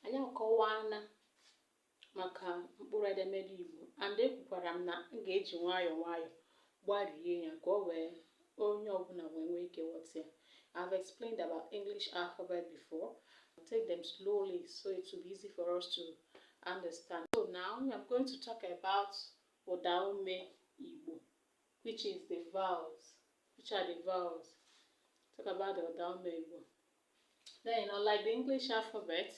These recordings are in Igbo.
Anyị akọwaana maka mkpụrụ edemede Igbo and ekwukwara m na m ga-eji nwayọ nwayọ gbarie ya ka o wee onye ọbụla wee nwee ike ghọta ya. I've explained about English alphabet before. I'll take them slowly so it will be easy for us to understand. So now I'm going to talk about ụdaume Igbo which is the vowels. Which are the vowels? Talk about the ụdaume Igbo. Then, unlike the English alphabet,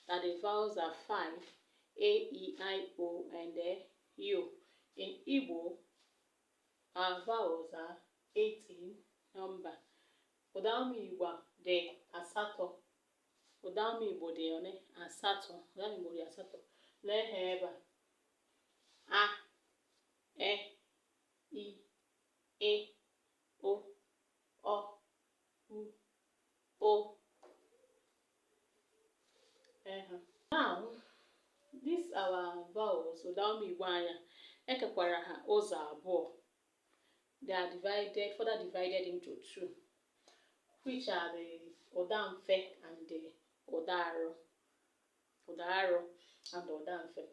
that the vowels are five, A, E, I, O, and uh, U. In Igbo, our vowels are eight in number. Ụdaume Igbo dị asatọ. Ụdaume Igbo dị one? Asatọ. Ụdaume Igbo dị asatọ. Nee ha ebe a. A, E, I, Ị, O, Ọ, U, Ụ. Now, these our vowels, ụdaume Igbo anyị a, e kekwara ha ụzọ abụọ. They are divided, further divided into two, which are the ụda mfe and the ụda arọ. Ụda arọ and ụda mfe.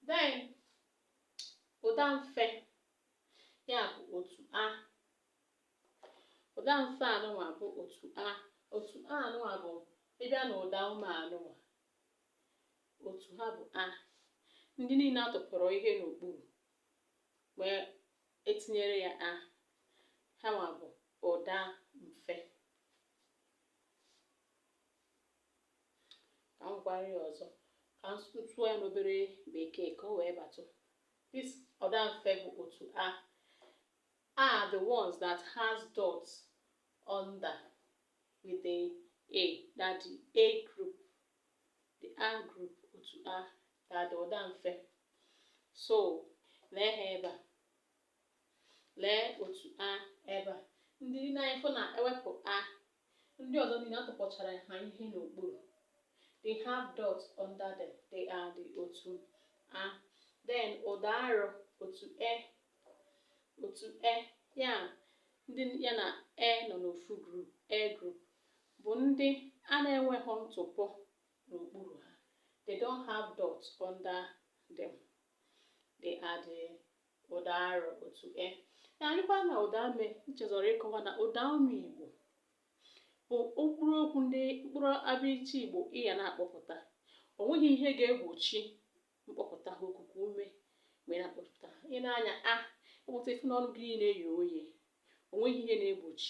Then, ụda mfe ya bụ otu A Ụda mfe anụnwa bụ otu A. Otu A anụnwa bụ ị bịa na ụda ume anụnwa. Otu ha bụ A. Ndị niile a tụpọrọ ihe n'okpuru wee tinyere ya A. Ha nwa bụ ụda mfe. Ka m kọwarịa ya ọzọ ka m sụtụ ya n'obere bekee ka o wee batụ. This ụda mfe bụ otu A. are the ones that has dots under with the A, that the A group, the A group, otu A, that ụda mfe. So, lee ha ebe a. Lee otu A ebe a. Ndị dị na ya. Ị fụ na e wepụ A Ndị ọzọ niile a tụpọchara ha ihe n'okpuru. They have dots under them. They are the otu A. Then ụda arọ otu E otu E ya ndị ya na E nọ n'ofu group E group bụ ndị a na-enweghị ntụpọ n'okpuru ha. They don't have dots under them. They are the ụdaarọ otu E ya anyịkwa na ụdaume m chezọrọ ịkọwa na ụdaume igbo bụ mkpụrụ okwu ndị mkpụrụ abịịchịị igbo ị ya na-akpọpụta o nweghị ihe ga-egbochi mkpọpụta ha okuku ume mgbe a na-akpọpụta ha i nee anya A ị kpọpụta ị fụ na ọnụ gị na-eye oye o nweghị ihe na-egbochi